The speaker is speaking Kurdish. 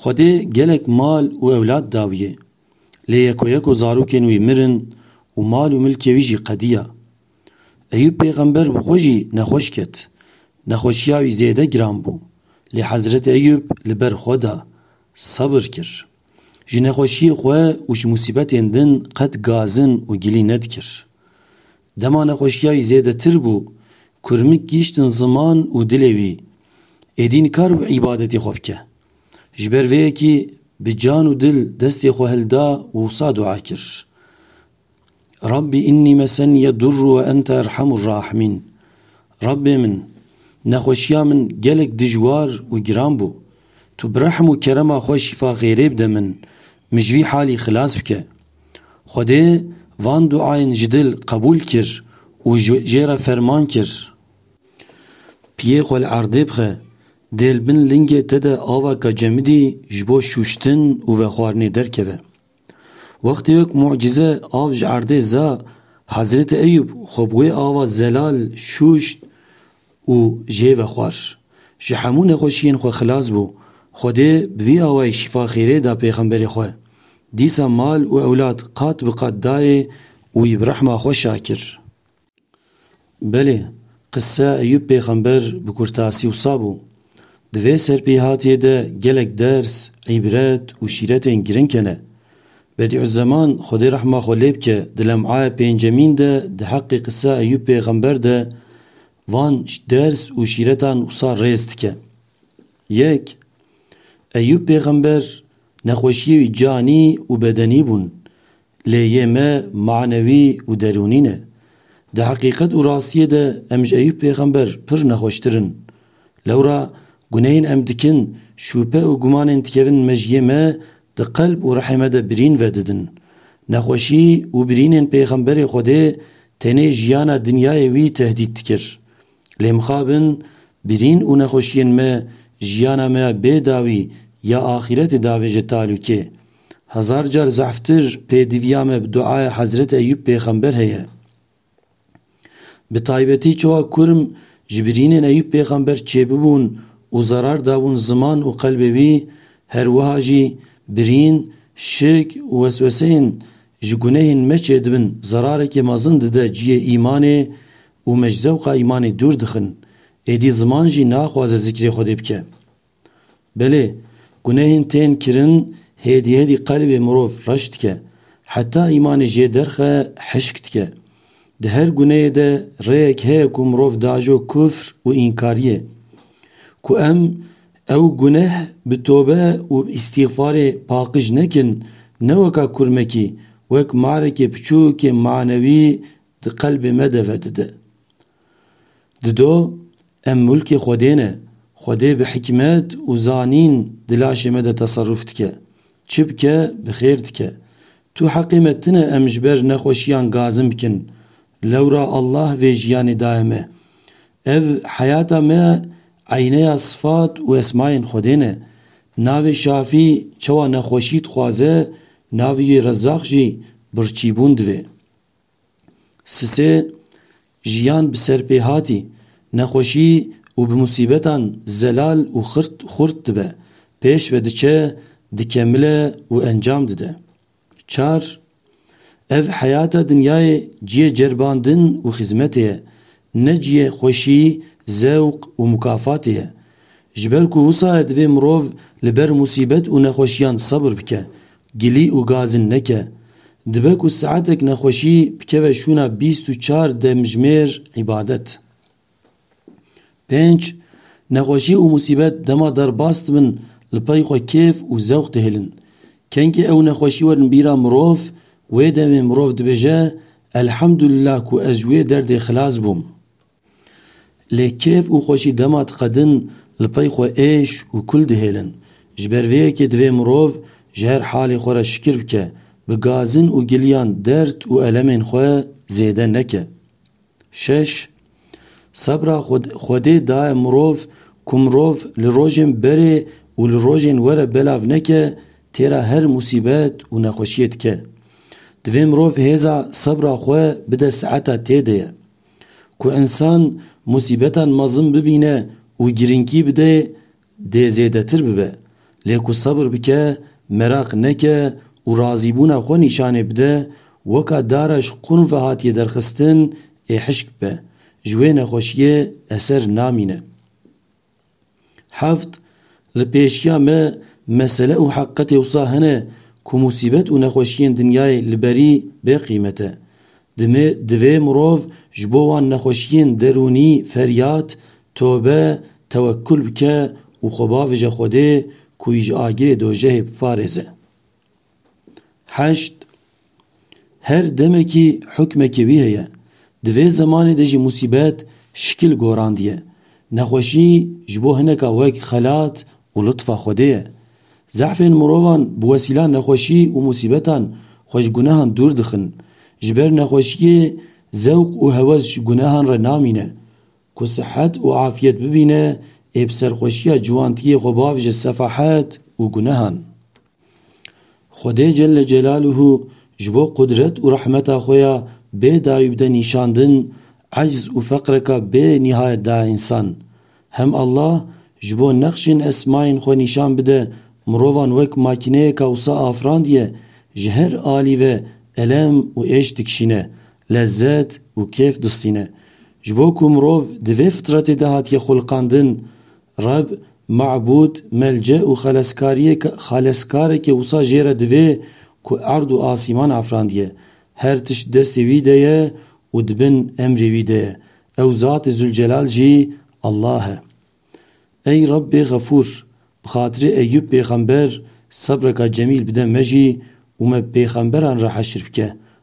Xwedê gelek mal û ewlad dawîye. Lê yekoyeko zarokên wî mirin û mal û milkê wî jî qediya. Eyûb pêxember bi xwe jî nexweş ket. Nexweşiya wî zêde giran bû. Lê Hezreti Eyûb li ber xwe da. Sebir kir. Ji nexweşiyê xwe û ji musîbetên din qet gazin û gilî nedikir. Dema nexweşiya wî zêdetir bû, kurmik gihîştin ziman û dilê wî, êdî nikar bû îbadetê xwe bike. Ji ber vê yekî bi can û dil destê xwe hilda û wisa dua kir. Rabbî înnî mesenîye durr we ente erhemur rahimîn. Rabbê min, nexweşiya min gelek dijwar û giran bû. Tu bi rehm û kerema xwe şîfa xêrê bide min, min ji vî halî xilas bike. Xwedê van duayên ji dil qebûl kir û jê re ferman kir. Piyê xwe li erdê bixe, dê li bin lingê te de avaka cemidî ji bo şûştin û vexwarinê derkeve. Wextê wek mucize av ji erdê za, Hezretê Eyûb xwe bi wê ava zelal şûşt û jê ve xwar. Ji hemû nexweşiyên xwe xilas bû. Xwedê bi vî awayî şîfa xêrê da pêxemberê xwe. Dîsa mal û ewlad qat bi qat dayê û wî bi rehma xwe şa kir. Belê, qise Eyûb pêxember bi kurtasî wisa bû. Di vê serpêhatiyê de gelek ders, îbret û şîretên girîng hene. Bedî'uzeman Xwedê rehma xwe lê bike di lem'aya pêncemîn de di heqê qisa Eyûb pêxember de van ders û şîretan wisa rêz dike. Yek, Eyûb pêxember nexweşiyê wî canî û bedenî bûn. Lê yê me manewî û derûnî ne. Di heqîqet û rastiyê de em ji Eyûb pêxember pir nexweştir in. Lewra gunehên em dikin, şûpe û gumanên dikevin mejiyê me di qelb û rihê me de birîn vedidin. Nexweşî û birînên pêxemberê Xwedê tenê jiyana dinyayê wî tehdît dikir. Lê mixabin birîn û nexweşiyên me jiyana me ya bê dawî ya axîretê davêje talûkê. Hezar car zehftir pêdiviya me bi duaya Hezret Eyub pêxember heye. Bi taybetî çawa kurm ji birînên Eyub pêxember çêbibûn û zerar dabûn ziman û qelbê wî, her wiha jî birîn, şik û wesweseyên ji gunehên me çêdibin zerarekê mezin dide ciyê îmanê û me ji zewqa îmanê dûr dixin. Êdî ziman jî naxwaze zikrê Xwedê bike. Belê, gunehên tên kirin hêdî hêdî qelbê mirov reş dike, heta îmanê jê derxe hişk dike. Di her guneyê de rêyek heye ku mirov diajo kufr û înkariyê. Ku em ew guneh bi tobe û îstîxfarê paqij nekin, ne weka kurmekî, wek marekê piçûkê manewî di qelbê me de vedide. Dido em mulkê Xwedê ne. Xwedê bi hikmet û zanîn di laşê me de teserrûf dike. Çi bike bi xêr dike. Tu heqê me tine em ji ber nexweşiyan gazin bikin. Lewra Allah vê jiyanê daye me. Ev heyata me eyneya sifat û esmayên Xwedê ne. Navê Şafî çawa nexweşî dixwaze navê wî Rezzaq jî birçîbûn divê. Sisê jiyan bi ser pê hatî, nexweşî û bi musîbetan zelal û xurt dibe, pêş ve diçe, dikemile û encam dide. Çar, Ev heyata dinyayê ciyê ceribandin û xizmetê ye, ne ciyê xweşî, zewq û mukafatê ye. Ji ber ku wisa ye divê mirov li ber musîbet û nexweşiyan sebr bike Gilî û gazin neke. Dibe ku saetek nexweşî bikeve şûna bîst û çar demjimêr îbadet. Pênc, Nexweşî û musîbet dema derbas dibin li pey xwe kêf û zewq dihêlin. Kengê ew nexweşî werin bîra mirov, wê demê mirov dibêje, Elhemdulillah ku ez ji wê derdê xilas bûm. Lê kêf û xweşî dema diqedin li pey xwe êş û kul dihêlin. Ji ber vê yekê divê mirov ji her halê xwe re şikir bike, bi gazin û giliyan derd û elemên xwe zêde neke. Şeş, Sebra Xwedê daye mirov ku mirov li rojên berê û li rojên we re belav neke têra her musîbet û nexweşiyê dike. Divê mirov hêza sebra xwe bide sieta tê de ye. Ku însan musîbetan mezin bibîne û girînkî bide dê zêdetir bibe. Lê ku sebir bike, meraq neke û razîbûna xwe nîşanê bide, weka dara ji qûn ve hatiye derxistin ê hişk bibe. Ji wê nexweşiyê eser namîne. Heft, Li pêşiya me mesele û heqetê wisa hene ku musîbet û nexweşiyên dinyayê li berî bê qîmet e. Dimê divê mirov ji bo wan nexweşiyên derûnî feryad, tobe, tewekul bike û xwe bavije Xwedê ku wî ji agirê dojehê biparêze. Heşt, Her demekî hukmekê wî heye. Di vê zemanê de jî musîbet şikil gorandiye. Nexweşî ji bo hineka wek xelat û litfa Xwedê ye. Zehfên mirovan bi wesîla nexweşî û musîbetan xwe ji gunehan dûr dixin. Ji ber nexweşiyê zewq û hewes ji gunehan re namîne. Ku sihet û afiyet bibîne ê bi serxweşiya ciwantiyê xwe bavije sefahet û gunehan. Xwedê Celle Celaluhu ji bo qudret û rehmeta xwe ya bê dayî bide nîşandin, ecz û feqreka bê nîhayet da însan. Hem Allah ji bo nexşên esmayên xwe nîşan bide mirovan wek makîneyeka wisa afirandiye, ji her alî ve elem û êş dikişîne, lezzet û kêf distîne. Ji bo ku mirov di vê fitretê de hatiye xwiliqandin, Reb, mabûd, melce û xeleskariyê ke xaleskareke wisa jê re divê ku erd û asîman afrandiye. Her tişt destê wî de ye û di bin emrê wî de ye. Ew Zatê Zûlcelal jî Allah e. Ey Rebbê Xefûr! Bi xatirê Eyyûb pêxember sebreka cemîl bide me jî û me bi pêxemberan re heşr bike.